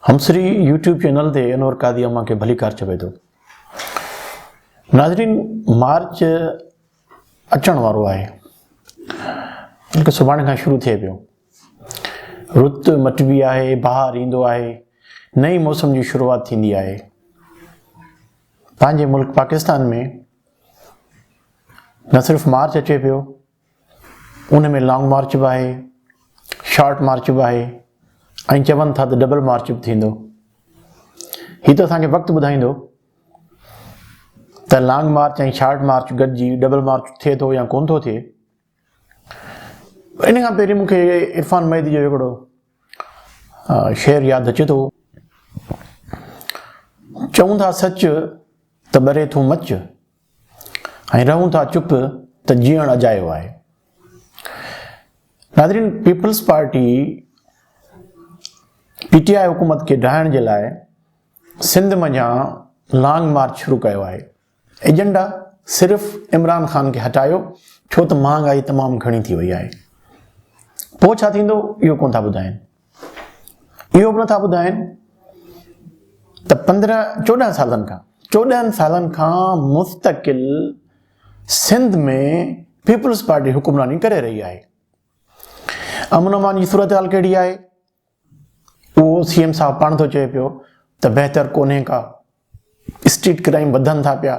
همسري YouTube channel تي انور قاضي امان کي ڀليڪار چوي ٿو ناظرين مارچ اچڻ وارو آهي بلڪه سڀاڻي کان شروع ٿئي پيو رت مٽبي آهي بهار ايندو آهي نئين موسم جي شروعات ٿيندي آهي پنهنجي ملڪ پاڪستان ۾ نه صرف مارچ اچي پيو ان ۾ لانگ مارچ به آهي، شارٽ مارچ به آهي ۽ چون ٿا ته ڊبل مارچ به ٿيندو. هي ته اسان کي وقت ٻڌائيندو ته لانگ مارچ ۽ شارٽ مارچ گڏجي ڊبل مارچ ٿئي ٿو يا ڪونه ٿو ٿئي. ان کان پهرين مون کي عرفان مهدي جو هڪڙو شعر ياد اچي ٿو. چون ٿا سچ ته ٻري ٿو مچ ۽ رهون ٿا چپ ته جيئڻ اجايو آهي. ناظرين Peoples Party P T I حڪومت کي ڊاهڻ جي لاء سنڌ منجهان لانگ مارچ شروع ڪيو آهي ايجنڊا صرف عمران خان کي هٽايو ڇو ته مهانگائي تمام گهڻي ٿي وئي آهي پوء ڇا ٿيندو اهو ڪونه ٿا ٻڌائين اهو به نٿا ٻڌائن ته پندرهن چوڏهن سالن کان چوڏهن سالن کان مستقل سنڌ ۾ پيپلز پارٽي حڪمراني ڪري رهي آهي امن امان جي صورتحال ڪهڙي آهي اهو سی ايم صاحب پاڻ ٿو چئي پيو ته بهتر ڪونهي ڪا اسٽريٽ ڪرائم وڌن ٿا پيا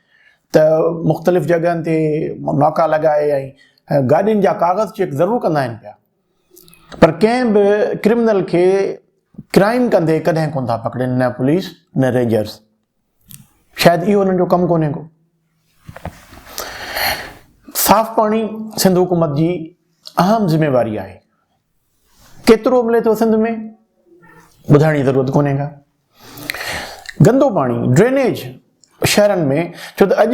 ته مختلف جڳهن تي ناڪا لڳائي ۽ گاڏين جا ڪاغذ چيڪ ضرور ڪندا آهن پيا پر ڪنهن به ڪرمنل کي ڪرائيم ڪندي ڪڏهن ڪونه ٿا پڪڙين نه پوليس نه رينجرز شايد اهو انهن جو ڪم ڪونهي ڪو صاف پاڻي سنڌ حڪومت جي اهم ذميواري آهي ڪيترو ملي ٿو سنڌ ۾ ٻڌائڻ جي ضرورت ڪونهي ڪا گندو پاڻي، ڊرينيج، شهرن ۾ ڇو ته اڄ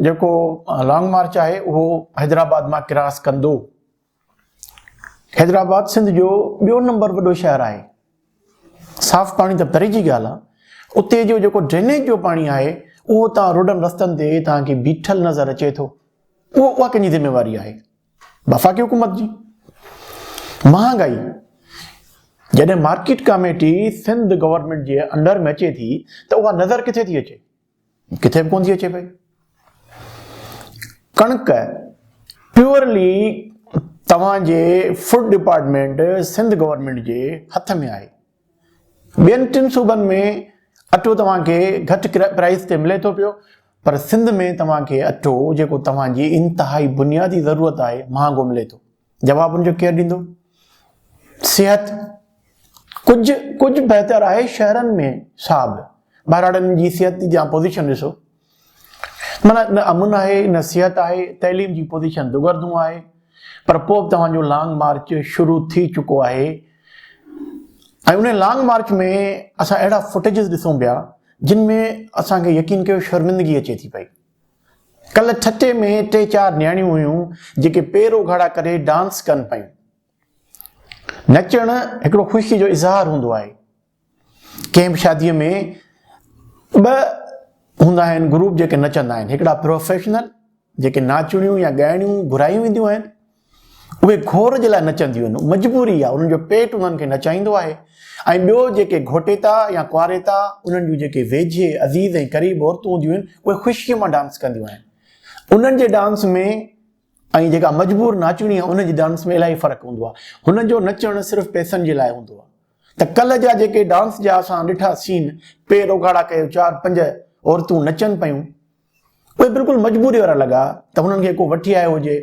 جيڪو لانگ مارچ آهي اهو حيدرآباد مان ڪراس ڪندو. حيدرآباد سنڌ جو ٻيو نمبر وڏو شهر آهي. صاف پاڻي ته پري جي ڳالهه آهي. اتي جو جيڪو ڊرينيج جو پاڻي آهي اهو تان روڊن رستن تي تان کي بيٺل نظر اچي ٿو. اهو اها ڪنهن جي ذميواري آهي؟ وفاقي حڪومت جي مهانگائي جڏهن مارڪيٽ ڪاميٽي سنڌ گورنمينٽ جي انڊر ۾ اچي ٿي ته اها نظر ڪٿي ٿي اچي ڪٿي به ڪون ٿي اچي پئي ڪڻڪ پيورلي توهان جي فوڊ ڊپارٽمنٽ سنڌ گورنمينٽ جي هٿ ۾ آهي ٻين ٽن صوبن ۾ اٽو توهان کي گهٽ پرائز تي ملي ٿو پيو پر سنڌ ۾ توهان کي اٽو جيڪو توهان جي انتهائي بنيادي ضرورت آهي مهانگو ملي ٿو جواب ان جو ڪير ڏيندو صحت ڪجهه ڪجهه بهتر آهي شهرن ۾ صاحب ٻهراڙن جي صحت جي پوزيشن ڏسو معنيٰ نه امن آهي نه صحت آهي، تعليم جي پوزيشن دوگردون آهي پر پوء به توهان جو لانگ مارچ شروع ٿي چڪو آهي ۽ ان لانگ مارچ ۾ اسان اهڙا فوٽيجز ڏسون پيا جن ۾ اسان کي يقين ڪيو شرمندگي اچي ٿي پئي ڪل ٺٽي ۾ ٽي چار نياڻيون هيون جيڪي پير اگهاڙا ڪري ڊانس ڪن پيون نچڻ هڪڙو خوشي جو اظهار هوندو آهي ڪنهن به شاديء ۾ ٻه هوندا آهن گروپ جيڪي نچندا آهن هڪڙا پروفيشنل جيڪي ناچڻيون يا ڳائڻيون گهرايون وينديون آهن اهي گهور جي لاء نچنديون آهن مجبوري آهي انهن جو پيٽ انهن کي نچائيندو آهي ۽ ٻيو جيڪي گهوٽيتا يا ڪواريتا انهن جون جيڪي ويجهي عزيز ۽ قريب عورتون هونديون آهن اهي خوشيء مان ڊانس ڪنديون آهن انهن جي ڊانس ۾ ۽ جيڪا مجبور ناچڻي آهي ان جي ڊانس ۾ الاهي فرق هوندو آهي هنن جو نچڻ صرف پئسن جي لاء هوندو آهي ته ڪلهه جا جيڪي ڊانس جا اسان ڏٺا سين پير اوگهاڙا ڪيو چار پنج عورتون نچن پيون اهي بلڪل مجبوري وارا لڳا ته هنن کي ڪو وٺي آيو هجي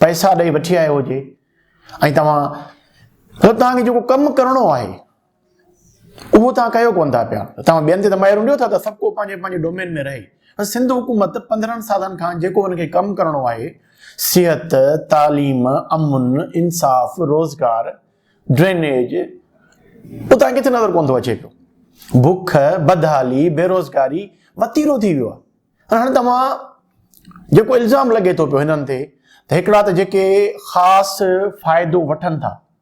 پئسا ڏئي وٺي آيو هجي ۽ توهان ته تهانکي جيڪو ڪم ڪرڻو آهي اهو توهان ڪيو ڪونه ٿا پيا توهان ٻين تي ته مهر هنڊيو ٿا ته سڀ ڪو پنهنجي پنهنجي ڊومين ۾ رهي پر سنڌ حڪومت پندرهن سالن کان جيڪو هن کي ڪم ڪرڻو آهي صحت تعليم امن انصاف روزگار ڊرينيج اتان کٿي نظر ڪون ٿو اچي پيو بک بدحالي بيروزگاري وتيرو ٿي ويو آهي هاڻي توهان جيڪو الزام لڳي ٿو پيو هنن تي ته هڪڙا ته جيڪي خاص فائدو وٺن ٿا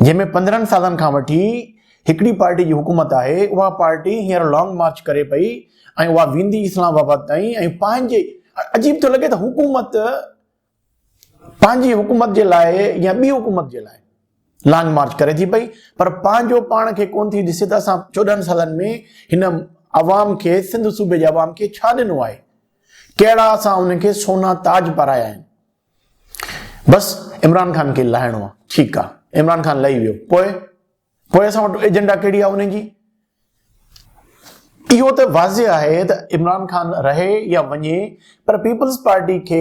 جنهن ۾ پندرهن سالن کان وٺي هڪڙي پارٽي جي حڪومت آهي، اها پارٽي هينئر لانگ مارچ ڪري پئي ۽ اها ويندي اسلام آباد تائين ۽ پنهنجي عجيب ٿو لڳي ته حڪومت پنهنجي حڪومت جي لاء يا ٻي حڪومت جي لاء لانگ مارچ ڪري ٿي پئي پر پنهنجو پاڻ کي ڪون ٿي ڏسي ته اسان چوڏهن سالن ۾ هن عوام کي سنڌ صوبي جي عوام کي ڇا ڏنو آهي ڪهڙا اسان انهن کي سونا تاج پارايا آهن بس عمران خان کي لاهڻو آ ٺيڪ آ عمران خان لهي ويو پوء پوء اسان وٽ ايجنڊا ڪهڙي آ انهن جي اهو ته واضح آهي ته عمران خان رهي يا وڃي پر پيپلز پارٽي کي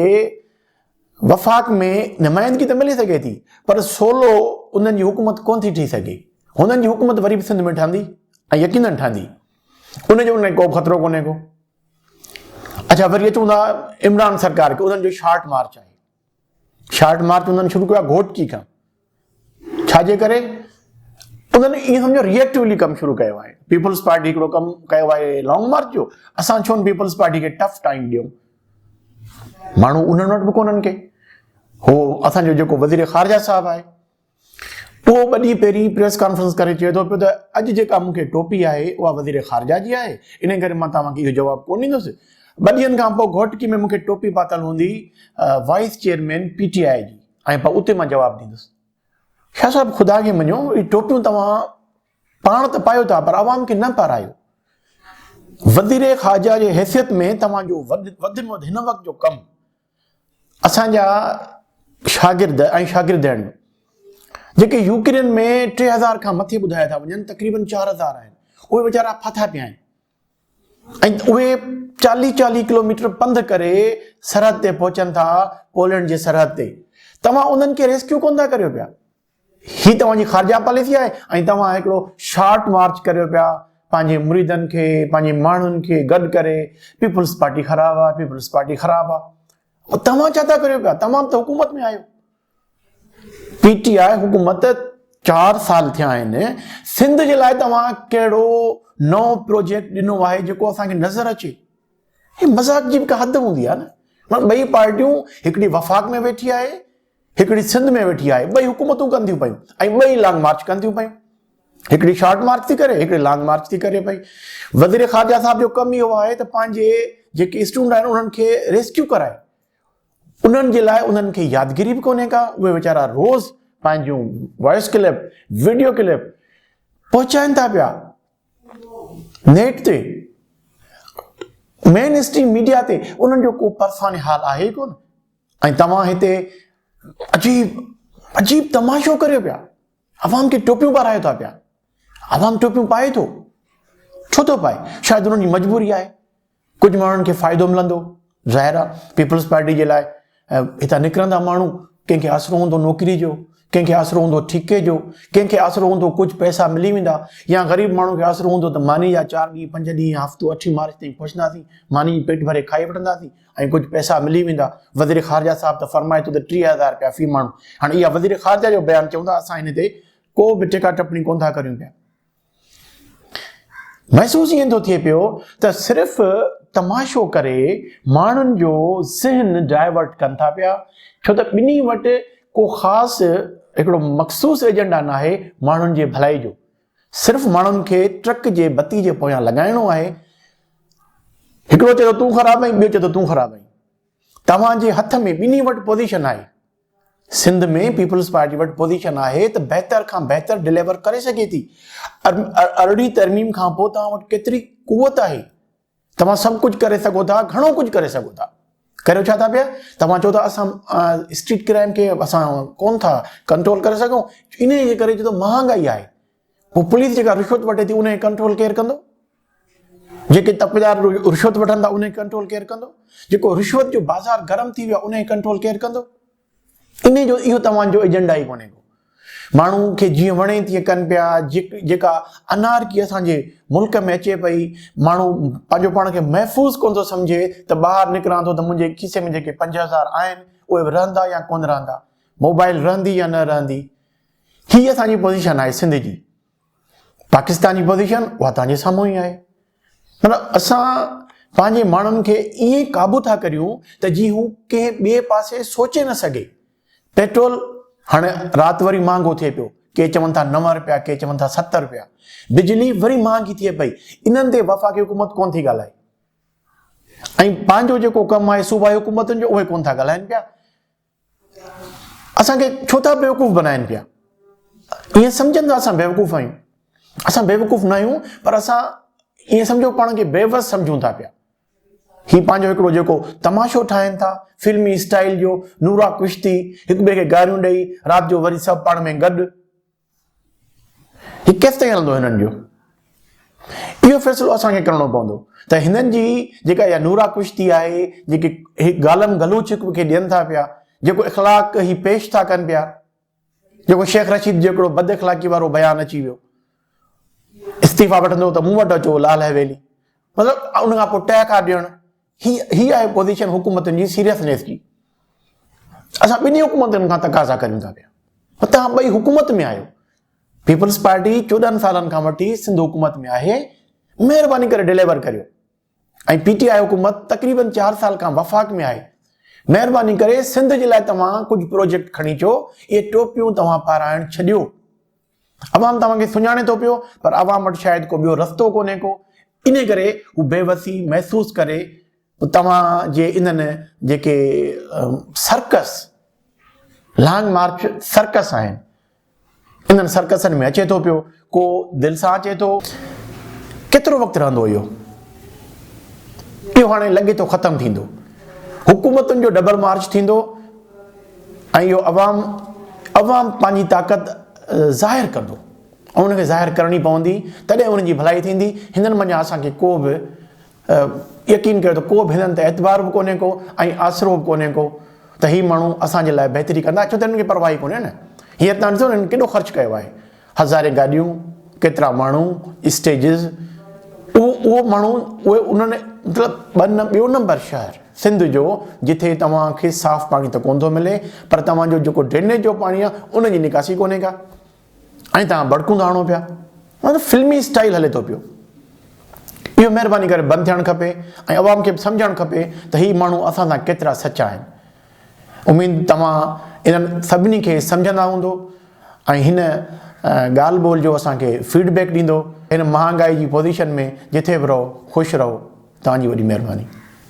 وفاق ۾ نمائندگي ته ملي سگهي ٿي پر سولو انهن جي حڪومت ڪون ٿي ٺهي سگهي هنن جي حڪومت وري به سنڌ ۾ ٺهندي ۽ يقينن ٺهندي ان جو ان لاء ڪو خطرو ڪونهي ڪو اڇا وري اچون ٿا عمران سرڪار کي انهن جو شارٽ مارچ آهي شارٽ مارچ انهن شروع ڪيو گهوٽڪي کان ڇاجي ڪري انهن ائين سمجھو ريئيڪٽولی ڪم شروع ڪيو آهي پيپلز پارٽي هڪڙو ڪم ڪيو آهي لانگ مارچ جو اسان ڇو پيپلز پارٽي کي ٽف ٽائيم ڏيون ماڻهو انهن وٽ به ڪونهن کي هو اسانجو جيڪو وزير خارجه صاحب آهي اهو ٻه ڏينهن پهرين پريس ڪانفرنس ڪري چئي ٿو پيو ته اڄ جيڪا مون کي ٽوپي آهي اها وزير خارجه جي آهي انهي ڪري مان توهان کي اهو جواب ڪونه ڏيندس، ٻه ڏينهن کان پوء گهوٽڪي ۾ مون کي ٽوپي پاتل هوندي vice chairman P T I جي ۽ پوء اتي مان جواب ڏيندس. شاهه صاحب خدا کي مڃو اهي ٽوپيون توهان پاڻ ته پايو ٿا پر عوام کي نه پارايو. وزير خارجه جي حيثيت ۾ توهان جو وڌ ۾ وڌ هن وقت جو ڪم اسان جا شاگرد ۽ شاگردياڻيون جيڪي يوڪرين ۾ ٽي هزار کان مٿي ٻڌايا ٿا وڃن تقريبن چار هزار آهن اهي ويچارا ڦاٿا پيا آهن ۽ اهي چاليهه چاليهه ڪلوميٽر پنڌ ڪري سرحد تي پهچن ٿا پولينڊ جي سرحد تي توهان انهن کي ريسڪيو ڪونه ٿا ڪريو پيا هي توهان جي خارجه پاليسي آهي ۽ توهان هڪڙو شارٽ مارچ ڪريو پيا پنهنجي مريدن کي پنهنجي ماڻهن کي گڏ ڪري پيپلز پارٽي خراب آهي پيپلز پارٽي خراب آهي توهان ڇا ٿا ڪريو پيا توهان ته حڪومت ۾ آهيو پي ٽي آء حڪومت چار سال ٿيا آهن سنڌ جي لاء توهان ڪهڙو نئون پروجيڪٽ ڏنو آهي جيڪو اسان کي نظر اچي هي مذاق جي به حد هوندي آهي نه ٻئي پارٽيون هڪڙي وفاق ۾ ويٺي آهي هڪڙي سنڌ ۾ ويٺي آهي ٻئي حڪومتون ڪن ٿيون پيون ۽ ٻئي لانگ مارچ ڪن ٿيون پيون هڪڙي شارٽ مارچ ٿي ڪري هڪڙي لانگ مارچ ٿي ڪري پئي وزير خارجه صاحب جو ڪم اهو آهي ته پنهنجي جيڪي اسٽوڊنٽ آهن انهن کي ريسڪيو ڪرائي انهن جي لاء انهن کي يادگيري به ڪونهي ڪا اهي ويچارا روز پنهنجون وائس ڪلپ ويڊيو ڪلپ پهچائن ٿا پيا نيٽ تي مين اسٽريم ميڊيا تي انهن جو ڪو پرفاني حال آهي ئي ڪونه ۽ توهان هتي عجيب عجيب تماشو ڪريو پيا عوام کي ٽوپيون پارايو ٿا پيا عوام ٽوپيون پائي ٿو ڇو ٿو پائي شايد انهن جي مجبوري آهي ڪجهه ماڻهن کي فائدو ملندو ظاهر آ پيپلز پارٽي جي لاء هتان نڪرندا ماڻهو ڪنهن کي آسرو هوندو نوڪري جو ڪنهن کي آسرو هوندو ٺيڪي جو ڪنهن کي آسرو هوندو ڪجهه پئسا ملي ويندا يا غريب ماڻهو کي آسرو هوندو ته ماني جا چار ڏينهن پنج ڏينهن هفتو اٺين مارچ تائين پهچنداسين ماني جي پيٽ ڀري کائي وٺنداسين ۽ ڪجهه پئسا ملي ويندا وزير خارجا صاحب ته فرمائي ٿو ته ٽيهه هزار روپيا في ماڻهو هاڻي اها وزير خارجا جو بيان چون ٿا اسان هن تي ڪو به ٽيڪا ٽپڻي ڪون ٿا ڪريون پيا محسوس ائين ٿو ٿئي پيو ته صرف تماشو ڪري ماڻهن جو ذهن ڊائيورٽ ڪن ٿا پيا ڇو ته ٻنهي وٽ ڪو خاص هڪڙو مخصوص ايجنڊا ناهي ماڻهن جي ڀلائي جو صرف ماڻهن کي ٽرڪ جي بتي جي پويان لڳائڻو آهي هڪڙو چئي ٿو تون خراب آهين ٻيو چئي ٿو تون خراب آهين توهان جي هٿ ۾ ٻنهي وٽ پوزيشن آهي سنڌ ۾ پيپلز پارٽي وٽ پوزيشن آهي ته بهتر کان بهتر ڊليور ڪري سگهي ٿي. ارڙهين ترميم کان پوء توهان وٽ ڪيتري قوت آهي؟ توهان سڀ ڪجهه ڪري سگهو ٿا، گهڻو ڪجهه ڪري سگهو ٿا. ڪريو ڇا ٿا پيا؟ توهان چئو ٿا اسان اسٽريٽ ڪرائيم کي اسان ڪون ٿا ڪنٽرول ڪري سگهون، انهي جي ڪري جي ته مهانگائي آهي. پوء پوليس جيڪا رشوت وٺي ٿي انهي کي ڪنٽرول ڪير ڪندو؟ جيڪي تپجار رشوت وٺن ٿا انهي ڪنٽرول ڪير ڪندو جيڪو رشوت جو بازار گرم ٿي ويو آهي انهي ڪنٽرول ڪير ڪندو انهي جو اهو توهان جو ايجنڊا ئي ڪونهي ماڻهو کي جيئن وڻي تيئن ڪن پيا جيڪا انارڪي اسان جي ملڪ ۾ اچي پئي ماڻهو پنهنجو پاڻ کي محفوظ ڪون ٿو سمجهي ته ٻاهر نڪران ٿو ته منهنجي کيسي ۾ جيڪي پنج هزار آهن اهي به رهندا يا ڪون رهندا موبائل رهندي يا نه رهندي هي اسان جي پوزيشن آهي سنڌ جي پاڪستان جي پوزيشن اها توهان جي سامهون ئي آهي مطلب اسان پنهنجي ماڻهن کي ائين قابو ٿا ڪريون ته جي هو ڪنهن ٻئي پاسي سوچي نه سگهي پيٽرول هاڻي رات وري مهانگو ٿئي پيو ڪي چون ٿا نو رپيا ڪي چون ٿا ست رپيا بجلي وري مهانگي ٿئي پئي انهن تي وفاقي حڪومت ڪون ٿي ڳالهائي ۽ پنهنجو جيڪو ڪم آهي صوبائي حڪومتن جو اهي ڪون ٿا ڳالهائن پيا اسان کي ڇو ٿا بيوقوف بنائن پيا ائين سمجهن ٿا اسان بيوقوف آهيون اسان بيوقوف نه آهيون پر اسان ائين سمجهو پاڻ کي بيوس سمجهون ٿا پيا هي پنهنجو هڪڙو جيڪو تماشو ٺاهن ٿا فلمي اسٽائل جو نورا ڪشتي هڪ ٻئي کي گاريون ڏئي رات جو وري سڀ پاڻ ۾ گڏ هي ڪيستائين هلندو هنن جو؟ اهو فيصلو اسان کي ڪرڻو پوندو ته هنن جي جيڪا اها نورا ڪشتي آهي جيڪي هي گالن گلوچ هڪ ٻئي کي ڏين ٿا پيا جيڪو اخلاق هي پيش ٿا ڪن پيا جيڪو شيخ رشيد جيڪڙو بد اخلاقي وارو بيان اچي ويو استعيفا وٺندو ته مون وٽ اچو لال حويلي مطلب ان کان پوء ٽهڪا ڏيڻ هي هي آهي پوزيشن حڪومتن جي سيريسنيس جي اسان ٻنهي حڪومتن کان تقاضا ڪريون ٿا پيا توهان ٻئي حڪومت ۾ آهيو پيپلز پارٽي چوڏهن سالن کان وٺي سنڌ حڪومت ۾ آهي مهرباني ڪري ڊليور ڪريو ۽ پي ٽي آء حڪومت تقريبن چار سال کان وفاق ۾ آهي مهرباني ڪري سنڌ جي لاء توهان ڪجهه پروجيڪٽ کڻي اچو اهي ٽوپيون توهان پارائڻ ڇڏيو عوام توهان کي سڃاڻي ٿو پيو پر عوام وٽ شايد ڪو ٻيو رستو ڪونهي ڪو انهي ڪري هو بي وسي محسوس ڪري توهان جي انهن جيڪي سرڪس لانگ مارچ سرڪس آهن انهن سرڪسن ۾ اچي ٿو پيو ڪو دل سان اچي ٿو ڪيترو وقت رهندو اهو اهو هاڻي لڳي ٿو ختم ٿيندو حڪومتن جو ڊبل مارچ ٿيندو ۽ اهو عوام عوام پنهنجي طاقت ظاهر ڪندو ۽ ان کي ظاهر ڪرڻي پوندي تڏهن انهن جي ڀلائي ٿيندي هنن منجهان اسان کي ڪو به يقين ڪيو ته ڪو به هنن تي اعتبار به ڪونهي ڪو ۽ آسرو به ڪونهي ڪو ته هي ماڻهو اسان جي لاء بهتري ڪندا ڇو ته هنن کي پرواهي ڪونهي نه هينئر تان ڏسو هنن ڪيڏو خرچ ڪيو آهي هزارين گاڏيون، ڪيترا ماڻهو، اسٽيجز، اهو اهو ماڻهو اهي انهن مطلب ٻه نه ٻيو نمبر شهر سنڌ جو جتي توهان کي صاف پاڻي ته ڪونه ٿو ملي پر توهان جو جيڪو ڊرينيج جو پاڻي آهي ان جي نڪاسي ڪونهي ڪا ۽ توهان بڙڪون ٿا هڻو پيا مطلب فلمي اسٽائل هلي ٿو پيو اهو مهرباني ڪري بند ٿيڻ کپي ۽ عوام کي به سمجهڻ کپي ته هي ماڻهو اسان سان ڪيترا سچا آهن اميد توهان انهن سڀني کي سمجهندا هوندو ۽ هن ڳالهه ٻولهه جو اسان کي فيڊ بيڪ ڏيندو هن مهانگائي جي پوزيشن ۾ جٿي به رهو خوش رهو توهان جي وڏي مهرباني.